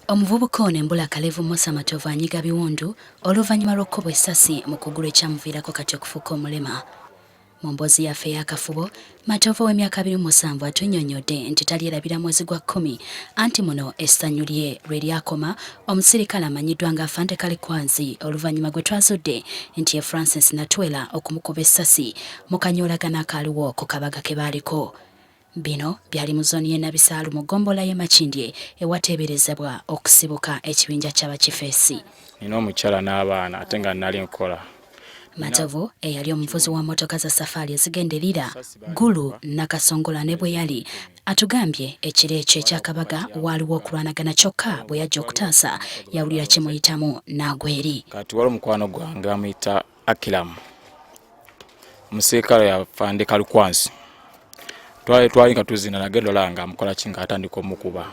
Omuvubuka ono embula kalevu Musa Matovu anyiga biwundu oluvannyuma lw'okukubwa essasi mu kugulu ekyamuviirako kati okufuuka omulema. Mu mboozi yaffe ey'akafubo, Matovu ow'emyaka abiri mu musanvu atunnyonnyodde nti talyerabira mwezi gwa kkumi anti muno essanyu lye lwe lyakoma omusirikale amanyiddwa nga Afande Kalikwanzi oluvannyuma gwe twazudde nti ye Francis Natwela okumukuba essasi mu kanyoolagano akaaliwo ku kabaga ke baaliko. Bino byali mu zooni y'e Nabisaalu mu ggombolola y'e Makindye ewateeberezebwa okusibuka ekibinja ky'abakifeesi. Nina omukyala n'abaana ate nga nnali nkola. Matovu eyali omuvuzi wa mmotoka za safaali ezigenda e Lira, Gulu, Nakasongola ne Bweyali atugambye ekiro ekyo ekyakabaga waaliwo okulwanagana kyokka bwe yajja okutaasa yawulira kimuyitamu n'agwa eri. Kati waliwo mukwano gwange amuyita Akilamu omuserikale yafande kalukwansi twali twali nga tuzina nage dola nga amukola ki nga atandika omukuba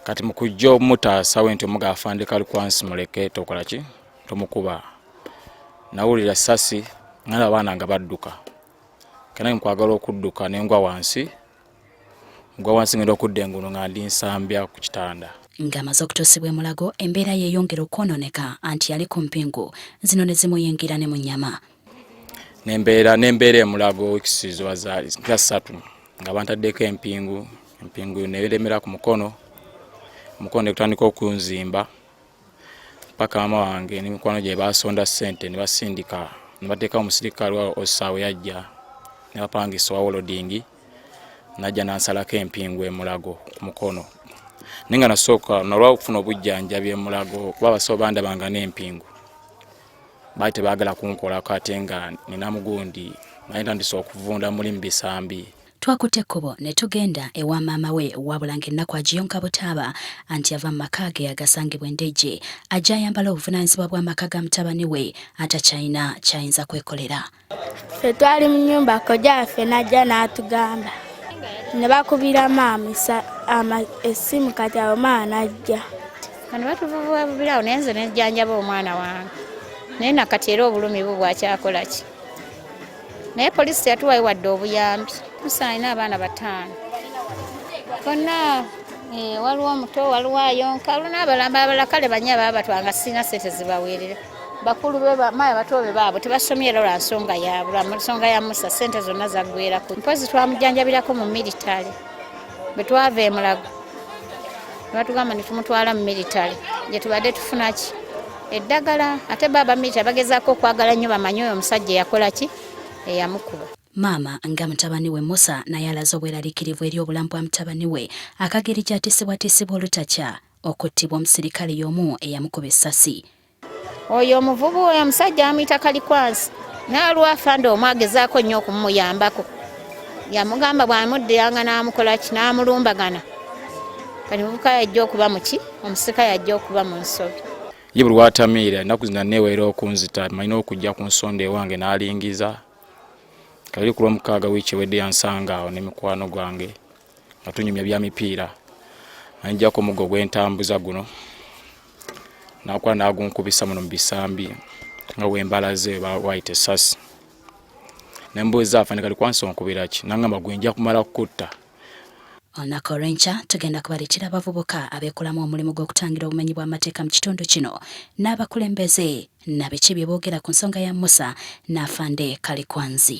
kati mu kujja omutaasa we nti omuga afande kalukwansi muleke tokola ki tomukuba nawulira sasi ngana abaana nga badduka kena nkwagala okudduka nengwa wansi gwa wansi ngenda okudda engulu nga ndi nsambya ku kitanda ng'amaze okutuusibwa emulago embeera yeeyongera okwonooneka anti yali ku mpingu zino ne zimuyingira ne mu nnyama nembeera nembeera emulago ekisiizo za ssatu nga bantaddeko empingu empingu neeremera ku mukono omukono ne gutandika okunzimba paka mama wange ne mikwano gye baasonda ssente ne basindika ne bateeka omusirikale wa osaawe yajja ne bapangisa owa wolodingi najja nansalako empingu emulago ku mukono naye nga nasooka nalwa okufuna obujjanjabi emulago kuba abasawo bandabanga n'empingu baali tebaagala kunkolako ate nga nina mugundi naye ntandise okuvunda muli mu bisambi Twakutte ekkubo ne tugenda ewa maama we wabula ng'ennaku agiyonka butaaba anti ava mu maka ge agasangibwa e Ndejje ajja ayambala obuvunaanyizibwa bw'amaka ga mutabani we atakyalina ky'ayinza kwekolera. Ffe twali mu nnyumba kojja waffe n'ajja n'atugamba ne bakubira maama essimu kati awo maama n'ajja. Bano batuvuvuubirawo naye nze ne njjanjaba omwana wange naye na kati era obulumi bwo bwakyakola ki? naye poliisi teyatuwayo wadde obuyambi musa alina abaana bataano konna eh, waliwo omuto waliwo ayonka waliwo n'abalamba abala kale banya baba batwanga sirina sente zibaweerera bakulu bemaya bato be baabo tebasomye era lwa nsonga yaabwe lwa nsonga ya musa sente zonna zaggwerako mpozi twamujanjabirako mu militale bwe twava emulago nebatugamba netumutwala mu militale gyetubadde tufunaki eddagala ate baaba mita bagezaako okwagala nnyo bamanye oyo omusajja eyakola ki eyamukuba maama nga mutabani we musa naye alaze obweraliikirivu eri obulamu bwa mutabani we akageri gyatisibwatisibwa olutakya okuttibwa omusirikale y'omu eyamukuba essasi oyo omuvubu oyo omusajja amuyita kalikwansi naalwafande omu agezaako nnyo okumuyambako yamugamba bw'amuddiranga n'amukolaki n'amulumbagana kati muvubuka yajja okuba muki omusika yajja okuba mu nsobi ye buli watamiira ennaku zina neeweera okunzita malina okujja ku nsonda ewange n'alingiza kabiri ku lwomukaaga wiiki ewedde yansanga awo ne mikwano gwange nga tunyumya bya mipiira anjjako omuggo gw'entambuza guno nakuba nagunkubisa muno mu bisambi nga wembalaze wayita esasi nembuuza afanikali kwansi onkubiraki nangamba gwenja kumala kukutta Olunaku olw'enkya tugenda kubaleetera abavubuka abeekolamu omulimu gw'okutangira obumenyi bw'amateeka mu kitundu kino n'abakulembeze nabiki bye boogera ku nsonga ya Musa n'Afande Kalikwanzi.